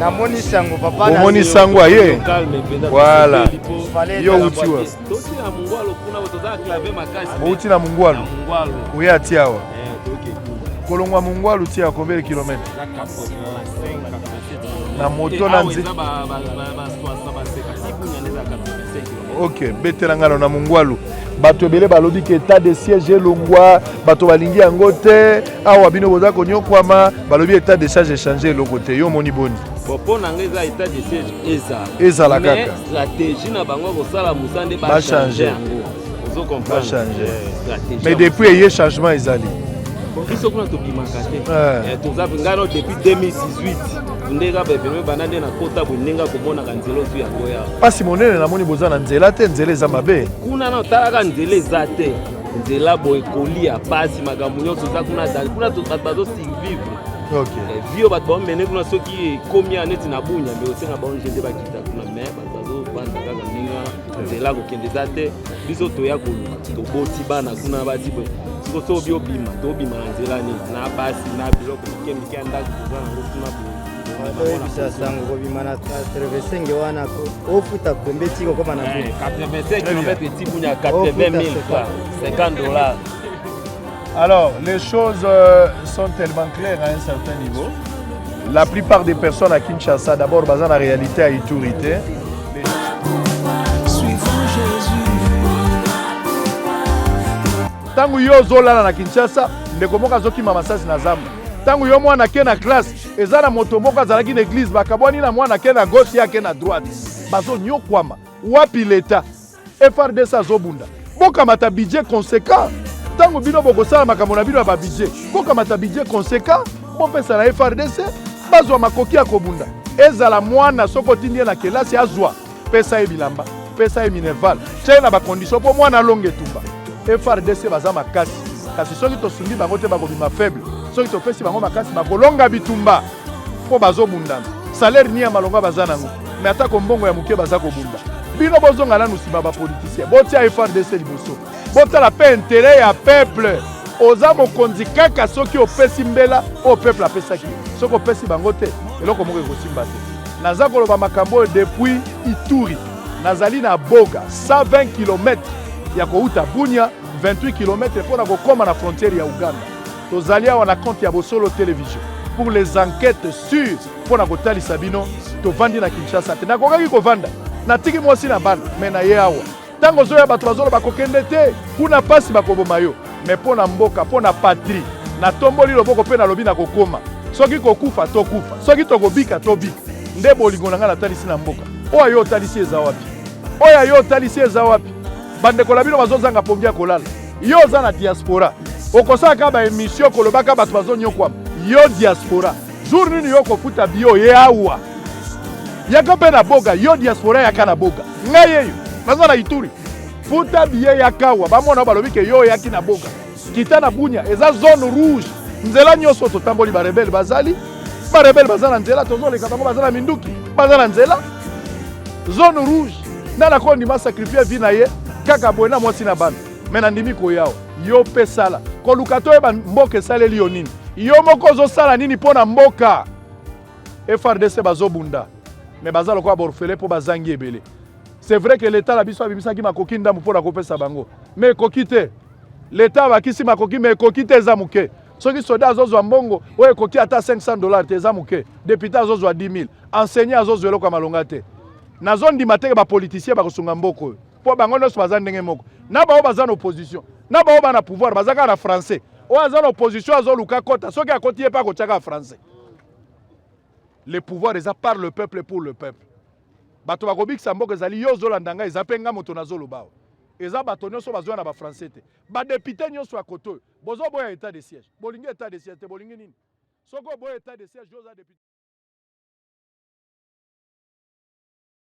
namoni sango papa omoni sango aye voilà yo uti wa outi na mungwalu oye ati awa eh, kolongwa mungwalu ti ya combien de kilomètre na moto na nzete ok betela ngano na mongwalu bato ebele balobi ke etat de siège elongwa bato balingi yango te awa bino boza konyokwama balobi etat de siège echange eloko te yo omoni boni mpo na ngai eza etat de siège ezala ezala kaka stratégie na bango ya kosala mosala nde bachange yango ozo comprendre mais depuis eye changement ezali biso kuna tobimaka te eh. Eh, toza ngai no depuis 2018 ndeka bepeme banda nde nakota boye ndenge akomonaka nzela ozwi yango ya mpasi monene namoni boza na nzela te nzela eza mabe kuna na otalaka nzela eza te nzela boye kolia mpasi makambo nyonso eza kuna azali kuna bato bazosurvivre eh, vio bato baomene kuna soki ekomi ya neti na bunya nde osenga baonje nde bakita kuna me bato bazobanda kaka ndenge wana nzela kokende eza te biso toya koluka toboti bana kuna bati boye siko so obi obima tobima na nzela nini na basi na biloko mike mike ya ndako toza nango kuna boye oyebisa sango kobima na 85 wana ofuta kombe ti kokoma na 85 km eti bunya 80 000 50 dollars Alors, les choses euh, sont tellement claires à un certain niveau. La plupart des personnes à Kinshasa, d'abord, basent la réalité à Iturité. ntango yo ozolala na kinshasa ndeko moko azokima masasi na zamba ntango yo mwana ake na classe eza na moto moko azalaki na eglize bakabwani na mwana ake na gauche ye ake na droite bazonyokwama wapi leta FRDC azobunda, bokamata budget conséquent. Ntango bino bokosala makambo na bino ya ba budget, bokamata budget conséquent, bopesa na FRDC bazwa makoki ya kobunda. Ezala mwana soki otindi ye na kelasi azwa, pesa ye bilamba, pesa ye minerval, tya ye na bakondition mpo mwana alonga etumba. FRDC baza makasi, kasi soki tosungi bango te bakobima faible, soki topesi bango makasi bakolonga bitumba. mpo bazobundana salaire ni ya malonga baza nango me atako mbongo ya moke baza kobunda bino bozonga nanu nsima bapolitisien botia frdc liboso botala mpe intere ya peuple oza mokonzi kaka soki opesi mbela oyo peuple apesaki soki opesi bango te eloko moko ekosimba te naza koloba makambo oyo depuis ituri nazali na boga 120 km ya kouta bunia 28 km mpo na kokóma na frontière ya uganda Tozali awa na compte ya Bosolo Television pour les enquetes sur mpo na kotalisa bino tovandi na Kinshasa te. Nakokaki kovanda, natiki mwasi na bana, me na ye awa. Ntango ozoya bato bazoloba kokende te, kuna mpasi bakoboma yo. Me mpo na mboka, mpo na patrie, natomboli loboko mpe nalobi nakokoma. Soki kokufa tokufa, soki tokobika tobika. Nde bolingo na ngai natalisi na mboka. Oyo yo otalisi eza wapi? Oyo yo otalisi eza wapi? Bandeko na bino bazozanga pongi ya kolala. yo oza na diaspora okosalaka ba emission kolobaka bato bazonyokwama yo diaspora jour nini yo okofuta bio ye awa yaka mpe na boga yo diaspora yaka na boga ngai yeyo naza na ituri futa biye yaka awa bamona balobi ke yo oyaki na boga kita na bunya eza zone rouge nzela nyonso totamboli barebele bazali barebele baza na nzela tozoleka bango baza na minduki baza na nzela zone rouge Nani akondima sacrifier vie na ye kaka boye na mwasi na bana? Me nandimi koya yo mpe sala koluka toyeba mboka esaleli yo nini. Yo moko ozosala nini mpo na mboka? FRDC bazobunda me baza lokola borfele mpo bazangi ebele. C'est vrai que l'État na biso abimisaki makoki ndambo mpo na kopesa bango, me ekoki te. L'État abakisi makoki me ekoki te, eza moke. soki soda azozwa mbongo oyo ekoki ata 500 dollars te eza moke depute azozwa 10 000 enseignant azozwa eloko ya malonga te Nazo ndima te que ba politiciens bako sunga mboka oyo. Po bango nionso baza ndenge moko. Na baoyo baza na opposition, na baoyo ba na pouvoir baza kaka na français. Oyo aza na opposition azo luka akota, soki akoti ye pe akotia kaka français. Le pouvoir eza par le peuple pour le peuple. Bato bako bikisa mboka ezali yo ozo landa ngai, eza pe ngai moto nazo loba awa. Eza bato nionso bazo ya na ba français te. Ba deputes nionso ya kote oyo, bozo boya etat de siège. Bolingi etat de siège te, bolingi nini? Soki oboyi etat de siège yo oza depute?